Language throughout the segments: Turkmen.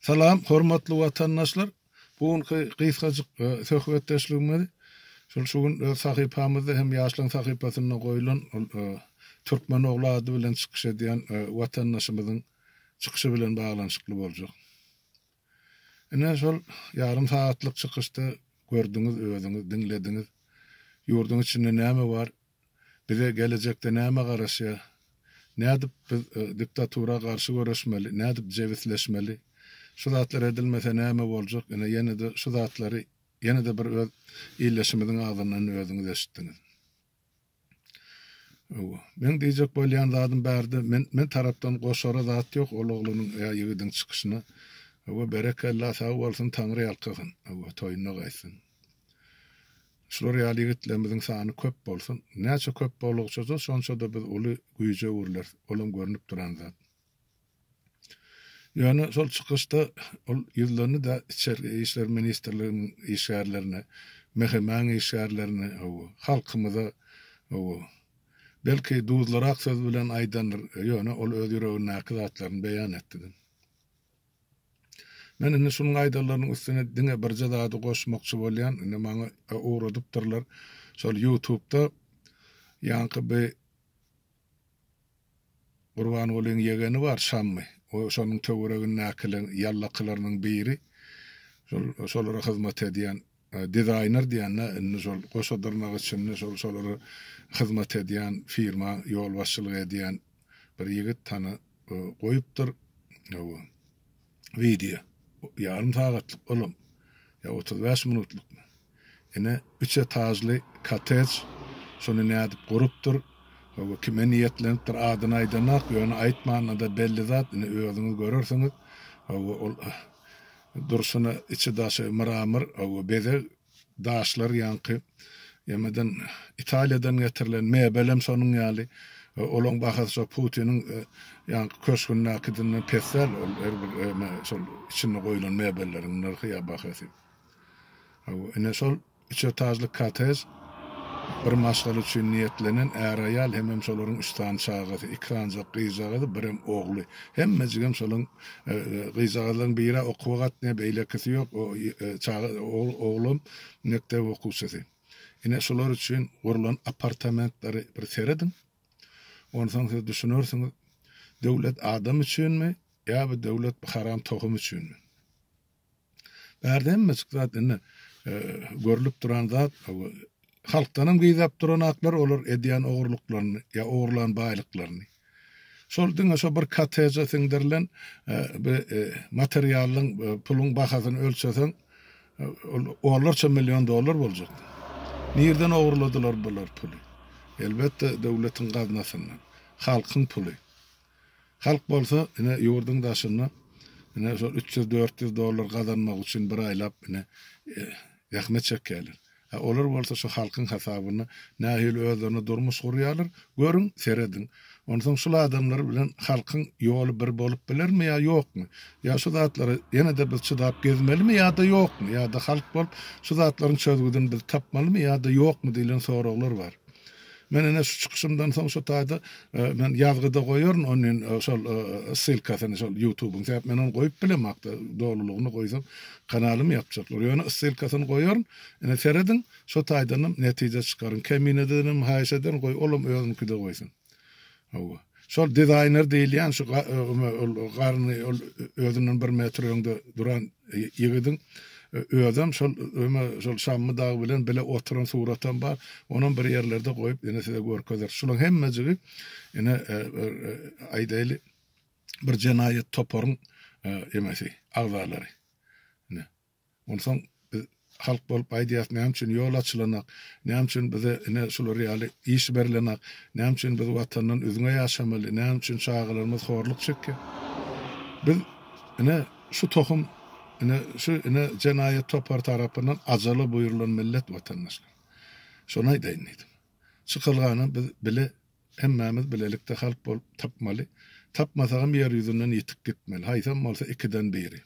Salam, hormatly watandaşlar! Bu günki gysgajyk söhbetdeşligimiz şol şu gün öz sahypamyzda hem ýaşlaryň sahypasynda goýlan ol Türkmen ogly ady bilen çykyş edýän watandaşymyzyň çykyşy bilen baglanyşykly boljak. Ine, şol ýarym sagatlyk çykyşda gördüňiz özüňiz, diňlediňiz, ýurduň içinde näme bar, Bize gelejekde näme garaşýar? Nädip biz diktatura garşy göreşmeli? Nädip jebisleşmeli? Şu zatlar edilmese näme boljak? Ine ýene-de şu zatlary ýene-de bir öz ildeşimiziň agzyndan özüňiz eşitdiňiz. Hawa. Meň diýjek bolýan zadym bärde men men tarapdan goşara zat ýok ol oglunyň ýa ýigidiň çykyşyna. Hawa berekella sag bolsun Taňry ýalkasyn. Hawa toýuna gaýtsyn. Şular ýaly ýigitlerimiziň sany köp bolsun. Näçe köp bolugçaja şonçada biz uly güýje öwrüleris, olam görnüp duran zat. Ýöne şol çykyşda ol ýüzlendi-de içerki işler ministrliginiň işgärlerine, MHM-iň işgärlerine, hawa, halkymyza, hawa, belki duzlyrak söz bilen aýdandyr, ýöne ol öz ýüregindäki zatlaryny beýan etdi-de. Men indi şunuň aýdanlarynyň üstüne diňe birje zady goşmakçy bolýan, indi maňa ugradypdyrlar şol ýutubda ýaňky bi Gurbangulyň ýegeni bar Şammy, o şonuň töweregindäkiler ýallakylarynyň biri, şolara hyzmat edýän, Dizaýner diýende indi şol goşadyrnak içinde şol şolara hyzmat edýän firma ýolbaşçylyk edýän bir ýigit tana goýupdyr hawa wideo ýarym sagatlyk olam ýa otuz bäş minutlykmy ine üç etažly kotej şony nädip gurupdyr hawa kime niýetlenipdir adyny aýdanok ýöne aýtmanda-da belli zat ine özüňiz görersiňiz hawa ol Durşuna içi-daşy mramor we bezeg daşlar ýaňky emeden Italiýadan getirilen mebelem şonuň ýaly. Olaň bahasy şo Putiniň ýaňky köşgündäkidinden pes däl. Ol her bir şol içinde goýlan mebelleriň nyrhy ýa bahasy. Hawa, ine şol Üç etažly kottej, bir maşgala üçin niýetlenen, är-aýal hemem şolaryň üç sany çagasy, iki sanjak gyzjagazy, birem ogly. Hemmejigem şolaryň, gyzjagazlaryň biri-ä okuwa gatnaýar, beýlekisi ýok, çaga, oglam mekdep okuwçysy. Ine, şular üçin gurlan apartamentleri bir serediň. Onsoň siz düşünersiňiz, döwlet adam üçinmi ýa bu döwlet bu haram tohum üçinmi? Bärde hemme çyk zat indi görlüp duran zat halkdanam gyzap duran aklar olar edýän ogurlyklaryny ýa ogurlan baýlyklaryny. Şol diňe şo bir koteje siňdirilen bir materialyň puluň bahasyny ölçeseň ol onlarça million dollar boljak. Nirden ogurladylar bular puly? Elbetde döwletiň gaznasyndan. Halkyň puly. Halk bolsa ine ýurduň daşynda ine şol üç ýüz, dört ýüz dollar gazanmak üçin bir aýlap ine zähmet çekýärler. A olar bolsa şu halkyň hasabyna nähili özlerine durmuş gurýarlar, görüň, serediň. Onsoň şul adamlar bilen halkyň ýoly bir bolup bilermi ýa ýokmy? Ýa şu zatlara ýene-de biz çydap gezmelimi ýa-da ýokmy? Ýa-da halk bolup şu zatlaryň çözgüdini biz tapmalymy ýa-da ýokmy diýlen soraglar bar. Men ine şu çykyşymdan soň şu taýda men ýazgyda goýaryn onin şol ssylkasyny şol ýutubyň sebäp men ony goýup bilemokda dolulygyny goýsam kanalymy ýapjaklar ýöne ssylkasyny goýaryn ine serediň şo taýdanam netije çykaryň kemine denem haýyş ederin goý olam özüniňkide goýsun Hawa. Şol dizaýner diýilýän şu garny özünden bir metr öňde duran ýigidiň özem şol şol Şammy dagy bilen bile oturan suratam bar. Onam bir ýerlerde goýup ine size görkezeris. Şulaň hemmejigi ine aýdaýly bir jenaýat toparyň emesi, agzalary. Onsoň biz halk bolup aýdýas, näme üçin ýol açylanak, näme üçin bize ine şular ýaly iş berlenak, näme üçin biz Watandan üzňe ýaşamaly, näme üçin çagalarymyz horluk çekýär. Biz ine şu tohum ine şu ine jenaýat topary tarapyndan ajaly buýrulan millet watandaşlar. Şony aýdaýyn diýdim. Çykalgany biz bile hemmämiz bilelikde halk bolup tapmaly. Tapmasagam ýer ýüzünden ýitip gitmeli. Haýsam bolsa ikiden biri.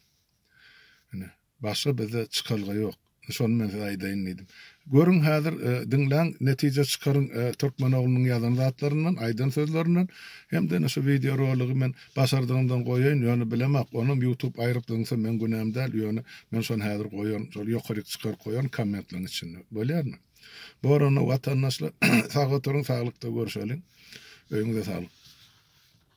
Ine, başga bizde çykalga ýok. Şony men size aýdaýyn diýdim. Görüň häzir, diňläň, netije çykaryň türkmen oglunyň ýazan zatlaryndan, aýdan sözlerinden. Hem-de ine şu wideo roligy men başardygymdan goýaýyn, ýöne bilemok, onam ýutub aýryp zyňsa meň günäm däl, ýöne men şony häzir goýaryn, şol ýokaryk çykaryp goýaryn kommentleriň içinde. Bolýarmy? Bor onda watandaşlar, sag oturyň, saglykda görşeliň. Öýüňize saglyk.